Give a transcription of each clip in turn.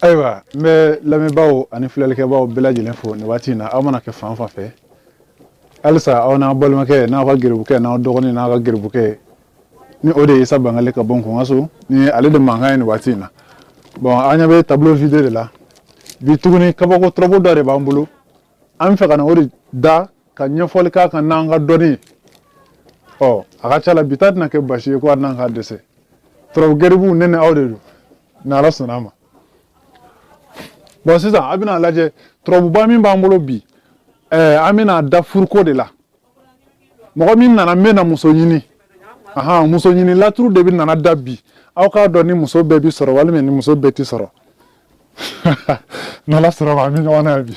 ayiwa n bɛ lamɛnbaaw ani filɛlikɛbaaw bɛɛ lajɛlen fo nin waati in na aw mana kɛ fan fan fɛ halisa aw n'aw balimakɛ n'aw ka geribukɛ n'aw dɔgɔnin n'aw ka geribukɛ ni o de ye isa bangale ka bɔ n kunka so ni ale de mankan ye nin waati in na bɔn an ɲɛ bɛ tableau vide de la bi tuguni kabako tɔrɔbu dɔ de b'an bolo an bɛ fɛ ka na o de da ka ɲɛfɔli k'a kan n'an ka dɔnni ye ɔ a ka ca la bi ta tɛna kɛ basi ye ko a tɛna an ka dɛsɛ turabu geribuw ne ni aw de don ni ala sɔnna a ma bɔn sisan a bɛna lajɛ turabuba min b'an bolo bi ɛɛ an bɛna a da furuko de la mɔgɔ min nana n bɛ na muso ɲini ahan muso ɲini laturu de bɛna na da bi aw k'a dɔn ni muso bɛɛ bi sɔrɔ walima ni muso bɛɛ ti sɔrɔ n'ala sɔnna a ma an bɛ ɲɔgɔn na bi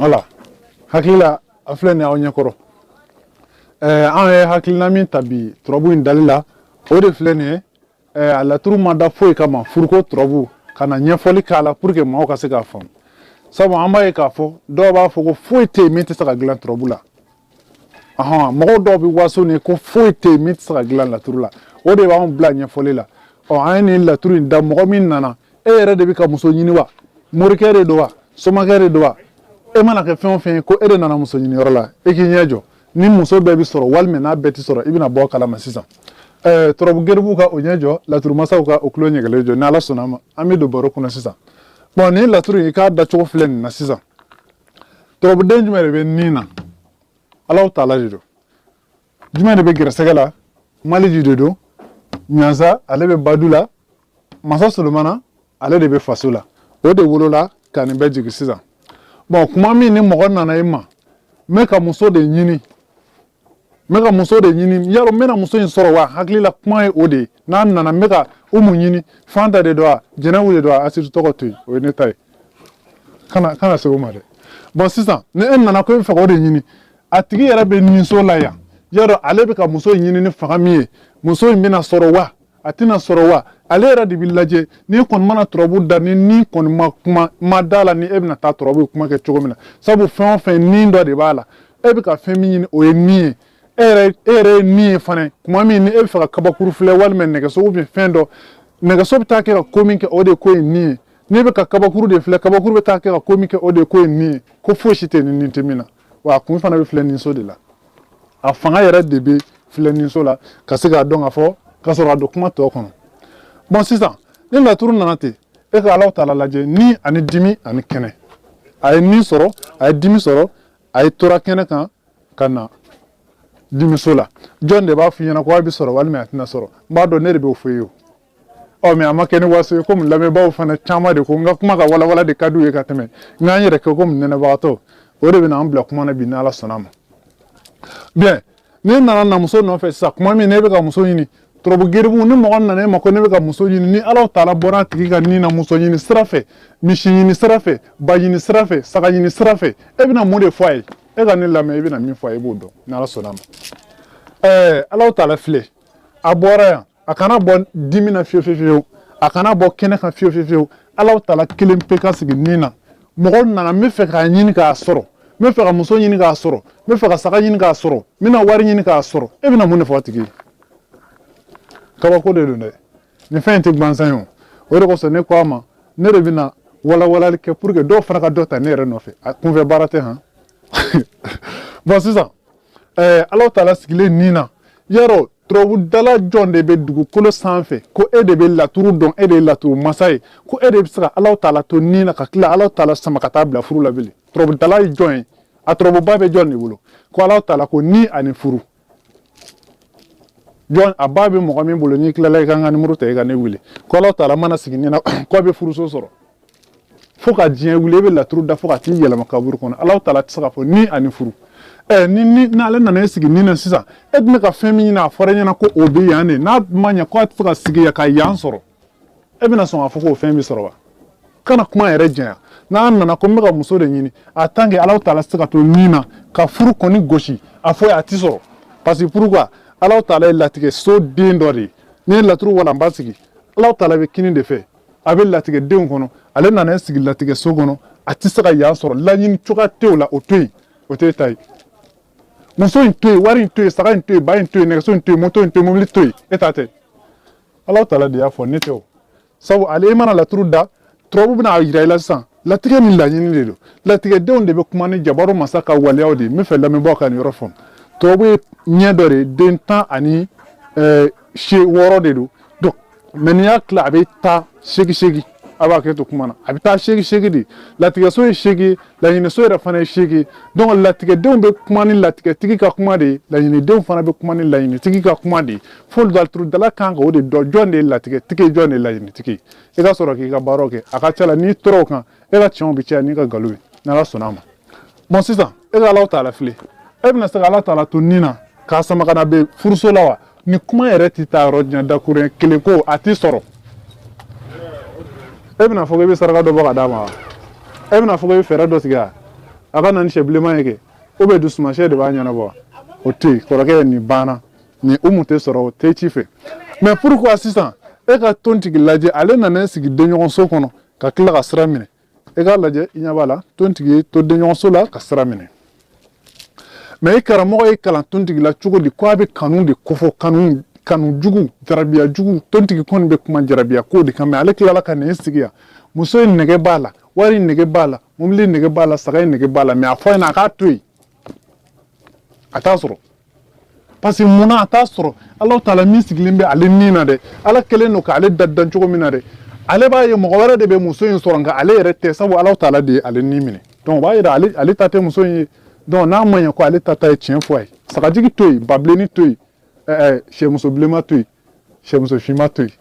Voilà hakilila filɛ ni aw ɲɛkɔrɔ an ye hakilina min ta bi turabu in dali la o de filɛ nin ye Eh, a laturu ma da foyi kama furuko tɔrɔbu ka na ɲɛfɔli k'a la pour que maaw ka se k'a faamu sabu an b'a ye k'a fɔ dɔw b'a fɔ ko foyi tɛ yen min tɛ se ka dilan tɔrɔbu la ɔhɔn mɔgɔw dɔw bɛ waso ni ko foyi tɛ yen min tɛ se ka dilan laturu la o de b'anw bila ɲɛfɔli la ɔ an ye nin laturu in da mɔgɔ min nana e yɛrɛ de bɛ ka muso ɲini wa morikɛ de don wa somakɛ de don wa e mana kɛ fɛn o fɛn ye ko e de nana muso ɲiniyɔrɔ la e k'i ɲɛ jɔ ni muso bɛɛ bɛ sɔrɔ walima n'a bɛɛ tɛ sɔrɔ i bɛna bɔ a kalama sisan ɛɛ turabu geribu ka o ɲɛ jɔ laturu masaw ka o tulo ɲɛgɛlen jɔ ni ala sɔnna a ma an bɛ don baro kɔnɔ sisan bɔn nin laturu in ka dacogo filɛ nin na sisan turabuden jumɛn de bɛ nin na alaw taala de don jumɛn de bɛ gɛrɛsɛgɛ la maliji de don ɲansa ale bɛ badu la masa solomana ale de bɛ faso la o de wolola ka nin bɛɛ jigin sisan bɔn kuma min ni mɔgɔ nana i ma n bɛ ka muso de ɲini n bɛ ka muso de ɲini y'a dɔn n bɛna muso in sɔrɔ wa hakilila kuma ye o de ye n'a nana n bɛ ka umu ɲini fanta de don a jɛnɛbu de don a asiri tɔgɔ to yen o ye ne ta ye kana kana se o ma dɛ bɔn sisan ni e nana ko e bɛ fɛ k'o de ɲini a tigi yɛrɛ bɛ ninso la yan y'a dɔn ale bɛ ka muso in ɲini ni fanga min ye muso in bɛna sɔrɔ wa a tɛna sɔrɔ wa ale yɛrɛ de bɛ lajɛ n'i kɔni mana turabu da ni ni kɔni ma kuma ma da la ni e bɛna taa turabu in kuma kɛ cogo min na sabu fɛn o fɛn ni dɔ de b'a la e bɛ ka fɛn min ɲini o ye ni ye e yɛrɛ e yɛrɛ ye ni ye fana kuma min ni e bɛ fɛ ka kabakuru filɛ walima nɛgɛso bɛ fɛn dɔ nɛgɛso bɛ taa kɛ ka ko min kɛ o de ye ko in ni ye n'i bɛ ka kabakuru de filɛ kabakuru bɛ taa kɛ ka ko min kɛ o de ye ko in ni ye ko fosi tɛ ni ni tɛ min na wa a kun fana bɛ filɛniso de la a fanga yɛrɛ de bɛ filɛniso la ka se k'a dɔn k'a fɔ ka sɔrɔ a don kuma tɔ kɔnɔ bɔn sisan ni laturu nana ten e ka alaw taala lajɛ ni ani dimi ani kɛnɛ a ye ni sɔrɔ a ye dimi sɔrɔ a ye tora kɛnɛ kan ka na dimiso la jɔn de b'a f'i ɲɛna ko a bɛ sɔrɔ walima a tɛna sɔrɔ n b'a dɔn ne de b'o fɔ i ye ɔ mɛ a ma kɛ ni waso ye komi lamɛnbaaw fana caman de ko n ka kuma ka walawala de ka di u ye ka tɛmɛ n ka n yɛrɛ kɛ komi nɛnɛbagatɔ o de bɛna an bila kuma na bi n'ala sɔnna a ma bɔn ne nana na muso nɔfɛ sisan kuma min ne bɛ ka muso ɲini turabu geribu ni mɔgɔ nana e ma ko ne bɛ ka muso ɲini ni ala taala bɔra a tigi ka ni na muso ɲini sira fɛ misi ɲini sira fɛ ba ɲini sira fɛ saga ɲini sira fɛ e bɛna mun de fɔ a ye e ka ne lamɛn e bɛna min fɔ a ye e b'o dɔn n'ala sɔnna a ma ɛɛ ala taala filɛ a bɔra yan a kana bɔ dimi na fiyewu fiyewu a kana bɔ kɛnɛ kan fiyewu fiyewu ala taala kelen pe ka sigi ni na mɔgɔ nana n bɛ fɛ k'a ɲini k'a sɔrɔ n bɛ fɛ ka muso ɲini k'a sɔrɔ n bɛ fɛ ka saga ɲini k'a sɔrɔ n bɛna wari ɲini k'a sɔrɔ e bɛna mun de fɔ a tigi ye kabako de don dɛ nin fɛn in tɛ gbansan ye o o de kosɔn ne ko a ma ne de bɛna walawalali kɛ pour que dɔw fana ka dɔ ta ne yɛrɛ nɔfɛ a kunfɛ baara tɛ han bɔn sisan ɛɛ ala taala sigilen ni na yɔrɔ turabudala jɔn de bɛ dugukolo sanfɛ ko e de bɛ laturu dɔn e de ye laturu masa ye ko e de bɛ se ka ala taala to ni na ka tila ala taala sama ka t'a bila furu la bilen turabudala ye jɔn ye a turabu ba bɛ jɔn de bolo ko ala taala ko ni ani furu jɔn a ba bɛ mɔgɔ min bolo n'i tilala i ka n ka nimoro ta i ka ne wele ko ala taala mana sigi ni na k'a bɛ furuso sɔrɔ fo ka diɲɛ wuli e bɛ laturu da fo ka t'i yɛlɛma kaburu kɔnɔ ala taala tɛ se k'a fɔ ni ani furu ɛ ni ni n'ale nana i sigi ni na sisan e tun bɛ ka fɛn min ɲini a fɔra e ɲɛna ko o bɛ yan de n'a ma ɲɛ ko a tɛ se ka sigi yan ka yan sɔrɔ e bɛna sɔn k'a fɔ k'o fɛn bɛ sɔrɔ wa kana kuma yɛrɛ janya n'a nana ko n bɛ ka muso de ɲini en tant que ala taala tɛ se ka to ni na ka furu kɔni gosi a fɔ a tɛ sɔrɔ parce que pourquoi ala taala ye latigɛso den dɔ de ye n'i ye laturu walanba sigi ala taala bɛ kinin de fɛ a bɛ latigɛdenw kɔnɔ ale nana i sigi latigɛso kɔnɔ a tɛ se ka yan sɔrɔ laɲini cogoya t'o la o to yen o t'i ta ye muso in to yen wari in to yen saga in to yen ba in to yen nɛgɛso in to yen moto in to yen mobili to yen e ta tɛ ala taala de y'a fɔ ne tɛ o sabu la e mana laturu da turabu bɛna a jira i la sisan latigɛ ni laɲini de don latigɛdenw de bɛ kuma ni jabaru masa ka waleyaw de ye n bɛ fɛ lamɛnbaaw ka nin yɔrɔ faamu turabu ye ɲɛ dɔ de den tan ani eh, se wɔɔrɔ de don donc mɛ n'i y'a tila a bɛ taa seegin seegin a bɛ hakɛ to kuma na a bɛ taa seegin seegin de latigɛso ye seegin laɲiniso yɛrɛ fana ye seegin donc latigɛdenw bɛ kuma ni latigɛtigi ka kuma de ye laɲinidenw fana bɛ kuma ni laɲinitigi ka kuma de ye fo laturudala kan ka o de dɔn jɔn de ye latigɛtigi ye jɔn de ye laɲinitigi ye i ka sɔrɔ k'i ka baaraw kɛ a ka ca la n'i tora o kan e ka tiɲɛw bɛ caya n'i ka nkalon ye n'ala sɔnna a ma bon sisan e ka alaw taala filɛ e bɛna se ka ala taala to ni na k'a sama ka na bɛ furuso la wa nin kuma yɛrɛ tɛ taa yɔrɔ jan dakurun kelen ko a tɛ sɔrɔ e bɛna fɔ ko i bɛ saraka dɔ bɔ ka d'a ma wa e bɛna fɔ ko i bɛ fɛɛrɛ dɔ sigi a a ka na ni sɛ bilenman ye kɛ o bɛ dusumasɛ de b'a ɲɛnabɔ o tɛ yen kɔrɔkɛ ye nin banna nin umu tɛ sɔrɔ o tigi fɛ mais pourquoi sisan e ka tontigi lajɛ ale nana i sigi denɲɔgɔnso kɔnɔ ka tila ka sira minɛ e k'a lajɛ i ɲɛ b'a la tontigi y'i to denɲɔgɔnso la ka sira minɛ mais i karamɔgɔ y'i kalan tontigi la cogo di ko a bɛ kanu de ko fɔ kanu kanu jugu jarabiya jugu tontigi kɔni bɛ kuma jarabiya ko de kan mais ale tilala ka nin sigi yan muso in nege b'a la wari nege b'a la mobili nege b'a la saga ye nege b'a la mais a fɔ a ɲɛna a k'a to yen a t'a sɔrɔ parce que mun na a t'a sɔrɔ ala taala min sigilen bɛ ale ni na dɛ ala kelen don k'ale dadan cogo min na dɛ ale b'a ye mɔgɔ wɛrɛ de bɛ muso in sɔrɔ nka ale yɛrɛ tɛ sabu ala taala de ye ale ni minɛ donc o b'a yira ale ale ta tɛ muso in ye donc n'a ma ɲɛ ko ale ta ta ye tiɲɛ fɔ a ye sagajigi to yen babilenni to yen ɛɛ sɛmuso bilenman to yen sɛmuso finman to yen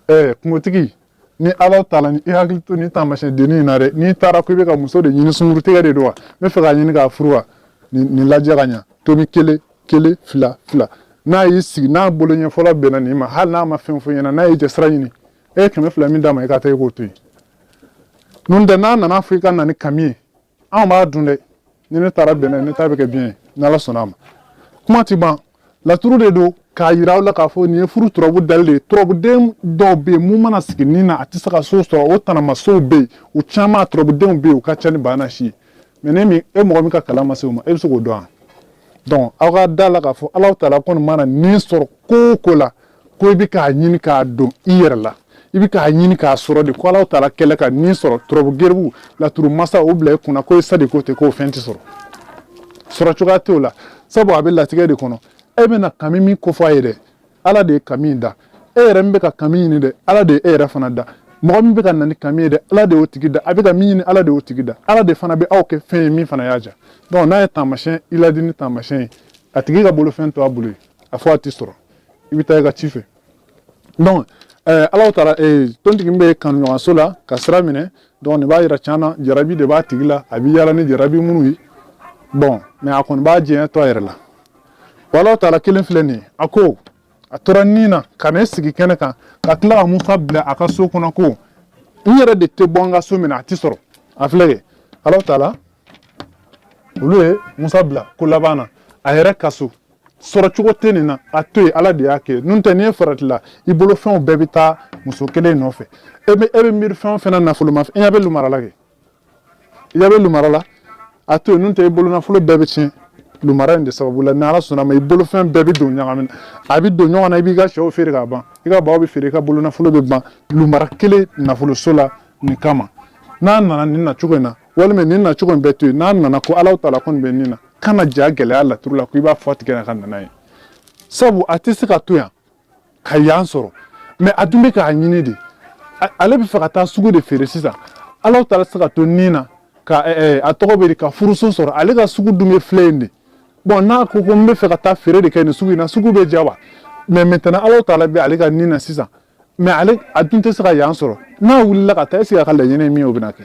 ɛɛ kungotigi ni ala taala ni i hakili to nin taamasiyɛn dennin in na dɛ n'i taara ko i bɛ ka muso de ɲini sungurutigɛ de don wa n b'a fɛ k'a ɲini k'a furu wa nin lajɛ ka ɲa tomi kelen kelen fila fila n'a y'i sigi n'a bolo ɲɛ fɔlɔ bɛnna nin ma hali n'a ma fɛn fɔ ɲɛna n'a ye jɛsira ɲini e ye kɛmɛ fila min d'a ma i ka taa i k'o to yen n'o tɛ n'a nana fɔ i ka na ni kami ye anw b'a dun dɛ ni ne taara bɛnɛ ne ta bɛ kɛ biɲɛ ye ni ala sɔnna a ma kuma ti ban laturu de don k'a yira aw la k'a fɔ nin ye furu turabu dalilu de ye turabuden dɔw bɛ yen min mana sigi ni na a tɛ se ka so sɔrɔ o taamasiyɛnw bɛ yen u caman turabudenw bɛ yen u ka ca ni bana si ye mais ne min e mɔgɔ min ka kalan ma se o ma e bɛ se k'o dɔn wa donc aw ka da a la k'a fɔ ala taala kɔni mana ni sɔrɔ ko o ko la ko i bɛ k'a ɲini k'a don i yɛrɛ la i bɛ k'a ɲini k'a sɔrɔ de ko alaw taala kɛlen ka ni sɔrɔ turabu geribu laturu masa o bila i kunna ko i sa de ko ten k'o fɛn tɛ sɔrɔ sɔrɔ cogoya t'o la sabu a bɛ latigɛ de kɔnɔ e bɛna kami min ko fɔ a ye dɛ ala de ye kami in da e yɛrɛ min bɛ ka kami ɲini dɛ ala de ye e yɛrɛ fana da mɔgɔ min bɛ ka na ni kami ye dɛ ala de y'o tigi da a bɛ ka min ɲini ala de y'o tigi da ala de fana bɛ aw kɛ fɛn ye min fana y'a ja donc n'a ye taamasiyɛn i ladi ni taamasiyɛn ye a tigi ka bolofɛn to a bolo ye a fɔ a tɛ sɔrɔ i bɛ taa i ka ci fɛ donc eh, alaw taala eh, tontigi bɛ kanuɲɔgɔnso la ka sira minɛ donc nin b'a yira can na jarabi de b'a tigi la a bɛ yaala ni jarabi minnu ye bon mais a kɔni b'a diɲɛ to a yɛrɛ la wa alaw taala kelen filɛ nin ye a ko a tora ni na ka ne sigi kɛnɛ kan ka tila ka musa bila a ka so kɔnɔ ko n yɛrɛ de tɛ bɔ n ka so mun na a tɛ sɔrɔ a filɛ kɛ alaw taala olu ye musa bila ko laban na a yɛrɛ ka so sɔrɔ cogo tɛ nin na a to yen ala de y'a kɛ n'o tɛ n'i ye farati la i bolo fɛnw bɛɛ bɛ taa muso kelen nɔfɛ e bɛ e bɛ miiri fɛn o fɛn na nafolo ma i ɲɛ bɛ lumara la kɛ i ɲɛ bɛ lumara la a to yen n'o tɛ i bolo nafolo bɛɛ bɛ tiɲɛ lumara in de sababu la ni ala sɔnna a ma i bolofɛn bɛɛ bɛ don ɲagami na a bɛ don ɲɔgɔn na i b'i ka sɛw feere ka ban i ka baw bɛɛ feere i ka bolo nafolo bɛ ban lumara kelen nafoloso la nin kama n'a nana nin na cogo in na walima nin na cogo in bɛɛ to yen n'a nana ko ala tala kɔni bɛ nin na kana ja gɛlɛya laturu la ko i b'a fɔ tigɛ na ka nana ye sabu a tɛ se ka to yan ka yan sɔrɔ mɛ a dun bɛ k'a ɲini de ale bɛ fɛ ka taa sugu de feere sisan ala tala se ka to nin na ka a tɔgɔ bɛ di ka furuso sɔrɔ ale ka sugu dun bɛ filɛ in de bɔn n'a ko ko n bɛ fɛ ka taa feere de kɛ nin sugu in na sugu bɛ ja wa mɛ mɛtɛnɛn ala tala bɛ ale ka nin na sisan mɛ ale a dun tɛ se ka yan sɔrɔ n'a wulila ka taa sa a ka laɲini min o bɛna kɛ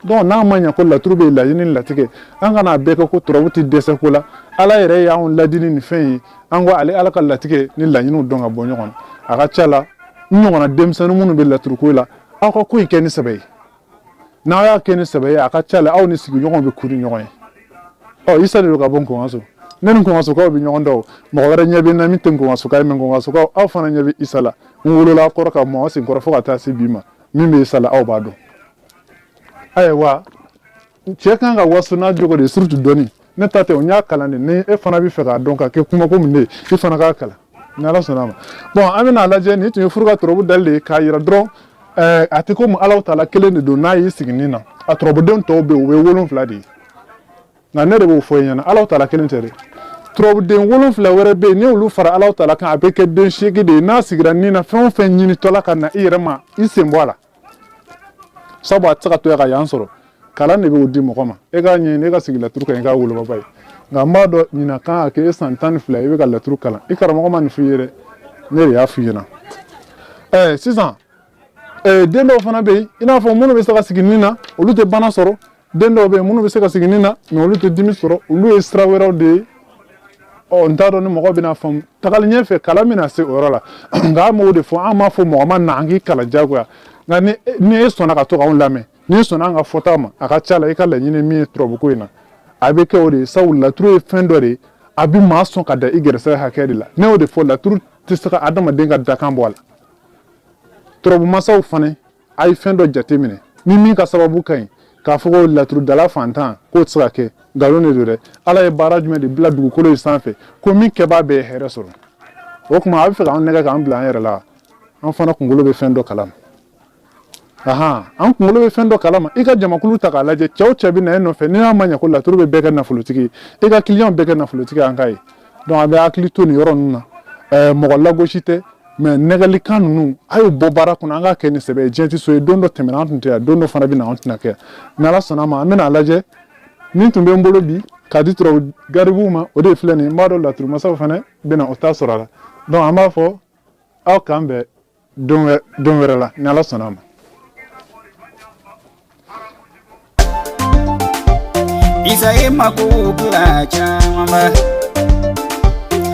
dɔnku n'a ma ɲɛ ko laturu bɛ laɲini latigɛ an kana a bɛɛ kɛ ko turabu tɛ dɛsɛ ko la ala yɛrɛ y'an laadi ni fɛn ye an ka ale ala ka latigɛ ni laɲiniw dɔn ka bɔ ɲɔgɔn na a ka ca la n ɲɔgɔnna denmisɛnnin minnu bɛ laturuko la aw ka ko in kɛ ni sɛbɛ ye n'aw y'a kɛ ni sɛbɛ ye a ka ca la aw ni sigiɲɔgɔnw bɛ kun ni ɲɔgɔn ye ɔ isa de don ka bɔ nkɔnso ne ni nkɔnsokaw bɛ ɲɔgɔn dɔn mɔgɔ wɛrɛ ɲɛ bɛ n na min tɛ nkɔnsoka ye mɛ nkɔnsokaw aw fana ɲɛ bɛ isa la n wolola kɔrɔ ka mɔ aw sen kɔrɔ fo ka taa se bi ma min bɛ isa la aw b'a dɔn ayiwa cɛ kan ka waso n'a jogo de ye surutu dɔɔni ne ta tɛ o n y'a kalan de ni e fana bɛ fɛ k'a dɔn ka kɛ kuma ko min de ye i fana k'a kalan ni ala sɔnna a ma bɔn an bɛna a lajɛ nin tun ye furu ka tɔrɔbu dali de ye k'a yira dɔrɔn ɛɛ a tɛ komi alaw tala kelen de don n'a y'i sigi nin na a tɔrɔbudenw tɔw bɛ yen u bɛ wolonfila de ye nka ne de b'o fɔ i ɲɛna alaw tala kelen tɛ dɛ tɔrɔbuden wolonfila wɛrɛ bɛ yen n'olu fara alaw tala kan a bɛ kɛ den seegin de ye n'a sigira nin na fɛn o fɛn ɲinitɔla ka na i yɛrɛ ma i sen bɔ a la sabu a tɛ se ka to yan ka yan sɔrɔ kalan de b'o di mɔgɔ ma e k'a ɲɛɲini e ka sigi laturu kan i k'a wolobaba ye nka n b'a dɔn ɲinan kan ka kɛ e san tan ni fila i bɛ ka laturu kalan i karamɔgɔ ma nin f'i ye dɛ ne de y'a f'i ɲɛna ɛɛ sisan den dɔw fana bɛ yen i n'a fɔ minnu bɛ se ka sigi nin na olu tɛ bana sɔrɔ den dɔw bɛ yen minnu bɛ se ka sigi nin na mɛ olu tɛ dimi sɔrɔ olu ye sira wɛrɛw de ye ɔ n t'a dɔn ni mɔgɔ bɛna faamu tagali ɲɛfɛ kalan bɛna se o yɔrɔ la nka an m'o de fɔ an m'a fɔ mɔgɔ ma na an k'i kalan jagoya nka ni ni e sɔnna ka to k'anw lamɛn n'i sɔnna an ka fɔta ma a ka ca la i ka laɲini min ye turabuko in na a bɛ kɛ o de ye sabu laturu ye fɛn dɔ de ye a bɛ maa sɔn ka da i gɛrɛsɛgɛ hakɛ de la ne y'o de fɔ laturu tɛ se ka adamaden ka dakan bɔ a la turabu masaw fana a ye fɛn dɔ jate minɛ ni min ka sababu ka ɲi k'a fɔ ko laturudala fantan k'o tɛ se ka kɛ nkalon de don dɛ ala ye baara jumɛn de bila dugukolo in sanfɛ ko min kɛbaa bɛɛ ye hɛrɛ sɔrɔ o tuma a b'a fɛ k'an nɛgɛn k'an bila an yɛrɛ la an fana kunkolo bɛ fɛn dɔ kalama ahan an kunkolo bɛ fɛn dɔ kalama i ka jamakulu ta k'a lajɛ cɛw cɛ bɛ na e nɔfɛ n'i y'a ma ɲɛ ko laturu bɛ bɛɛ kɛ nafolotigi ye i ka kiliyanw bɛɛ kɛ nafolotigi an k'a ye donc a bɛ hakili to nin yɔrɔ ninnu na mɔgɔ lagosi tɛ mais nɛgɛlikan ninnu a y'o bɔ baara kɔnɔ an k'a kɛ ni sɛbɛ ye diɲɛ tɛ so ye don dɔ tɛmɛna an tun tɛ yan don dɔ fana bɛ na an tɛna kɛ ni ala sɔnna ma an bɛna a lajɛ min tun bɛ n bolo bi k'a di turabu garibuw ma o de filɛ nin ye n b'a dɔn laturumasaw fana bɛna o ta sɔrɔ a la donc an b'a fɔ aw k'an bɛn don wɛrɛ la ni ala sɔnna ma Isa e mago kula chamba